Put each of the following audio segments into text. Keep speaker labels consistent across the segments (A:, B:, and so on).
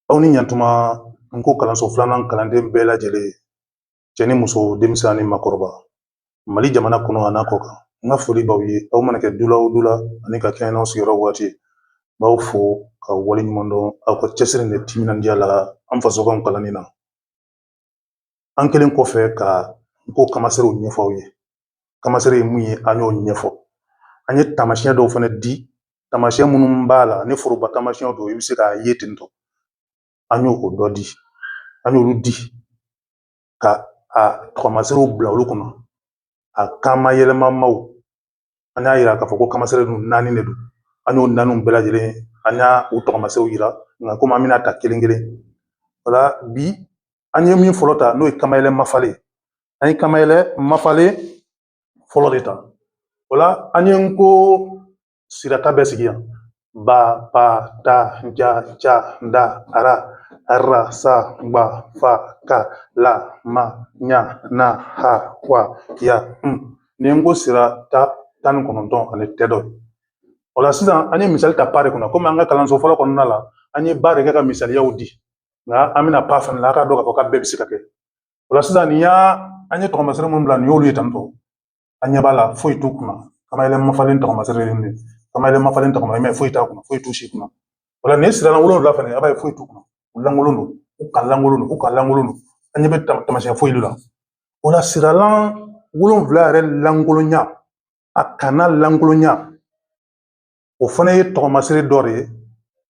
A: Aw ni ɲantuma nko kalanso filanan kalanden bɛɛ lajɛlen cɛ ni muso denmisɛn ni makɔrɔba mali jamana kɔnɔ an'a kɔkan n ka foli b'aw ye aw mana kɛ dula o dula ani ka kɛɲɛ n'aw sigiyɔrɔ waati b'aw fo ka waleɲumandɔn aw ka cɛsiri ni timinandiya la an fasokan kalanni na an kɛlen kɔfɛ ka nko kamaserew ɲɛfɔ aw ye kamasere ye mun ye an y'o ɲɛfɔ an ye taamasiyɛn dɔw fana di taamasiyɛn minnu b'a la ni foroba taamasiyɛnw don i bɛ se k'a ye ten tɔ an y'o dɔ di an y'olu di ka a tɔgɔmaserew bila olu kɔnɔ a kamayɛlɛmamaw an y'a yira k'a fɔ ko kamasere dun naani de don an y'o naani bɛɛ lajɛlen ani u tɔgɔmaserew yira nka komi an bɛn'a ta kelen kelen o la bi an ye min fɔlɔ ta n'o ye kamayɛlɛ mafalen ye an ye kamayɛlɛ mafalen fɔlɔ de ta o la an ye nko sirata bɛɛ sigi yan ba pa ta ja ca da ara ara sa gba fa ka la ma ɲa na ha wa ya n nin nko sirata tan ni kɔnɔntɔn ani tɛdɔ o la sisan an ye misali ta pa de kɔnɔ komi an ka kalanso fɔlɔ kɔnɔna la an ye ba de kɛ ka misaliyaw di nka an bɛna pa fana la a k'a dɔn k'a fɔ k'a bɛɛ bɛ se ka kɛ o la sisan nin y'a an ye tɔgɔmasere minnu bila nin y'olu ye tantɔ an ɲɛ b'a la foyi t'u kunna kamayɛlɛ mafalen tɔgɔmasere de kamayɛlɛ mafalen tɔgɔma i m'a ye foyi t'a kunna foyi t'u si kunna o la nin siralan wolonwula fana a b'a ye foyi t'u kunna u lankolon don u ka lankolon don u ka lankolon don an ɲɛ tɛ taamasiyɛn foyi la o la siralan wolonwula yɛrɛ lankolonya a kanna lankolonya o fana ye tɔgɔmasere dɔ de ye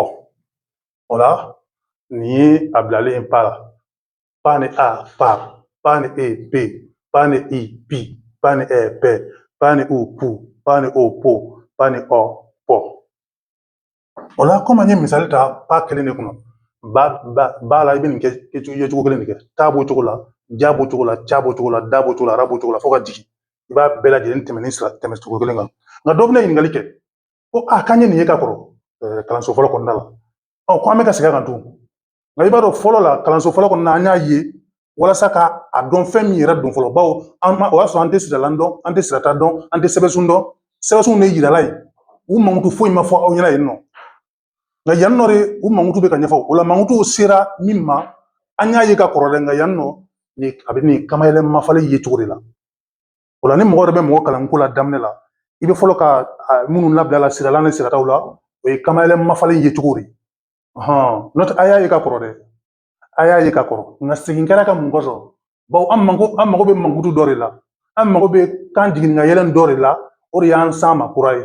A: Ɔ o la nin ye a bilalen ye pa la pa ni a pa pa ni e pe pa ni i pi pa ni ɛ pɛ pa ni u pu pa ni o po pa ni ɔ pɔ o la komi an ye misali ta pa kelen de kɔnɔ ba ba ba la i bɛ nin kɛ ye cogo kelen de kɛ ta b'o cogo la ja b'o cogo la ca b'o cogo la da b'o cogo la ara b'o cogo la fo ka jigin i b'a bɛɛ lajɛlen tɛmɛ nin sira tɛmɛ cogo kelen kan nka dɔ bɛna ɲininkali kɛ ko a k'an ye nin ye ka kɔrɔ kalanso fɔlɔ kɔnɔna la ɔ ko an bɛ ka segin a kan tuguni nka i b'a dɔn fɔlɔ la kalanso fɔlɔ kɔnɔna an y'a ye walasa ka a dɔn fɛn min yɛrɛ don fɔlɔ bawo an ma o y'a sɔrɔ an tɛ siralan dɔn an tɛ sirata dɔn an tɛ sɛbɛnsun dɔn sɛbɛnsun de yirala yen u mankutu foyi ma fɔ aw ɲɛna yen nɔ nka yan nɔ de u mankutu bɛ ka ɲɛfɔ o la mankutu sera min ma an y'a ye ka kɔrɔ dɛ nka yan nɔ ni a bɛ nin kamayɛlɛ mafalen yecogo de la O la ni mɔgɔ yɛrɛ bɛ mɔgɔ kalan nko la daminɛ la i bɛ fɔlɔ ka minnu labila siralan ni sirataw la o ye kamayɛlɛ mafalen yecogo de n'o tɛ a y'a ye ka kɔrɔ dɛ a y'a ye ka kɔrɔ nka segin kɛr'a kan mun kɔsɔn bawo an mako an mago bɛ mankutu dɔ de la an mago bɛ kan jigin ni kan yɛlɛ dɔ de la o de y'an sama kura ye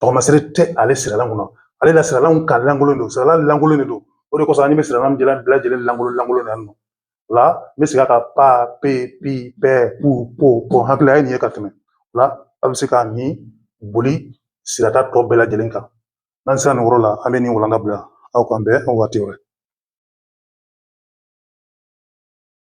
A: tɔɔmasere tɛ ale siralan kun na ale la siralanw ka lankolon don siralan lankolon de don o de kosɔn an bɛ siralan bila bɛɛ lajɛlen lankolon lankolon na nɔ o la n bɛ segin ka pa pe pi pɛ pu po pɔ hakilila ye nin ye ka tɛmɛ o la a bɛ se ka nin boli sirata tɔ bɛɛ lajɛlen kan n'an sera nin yɔrɔ la an bɛ nin walanda bila aw k'an bɛn waati wɛrɛ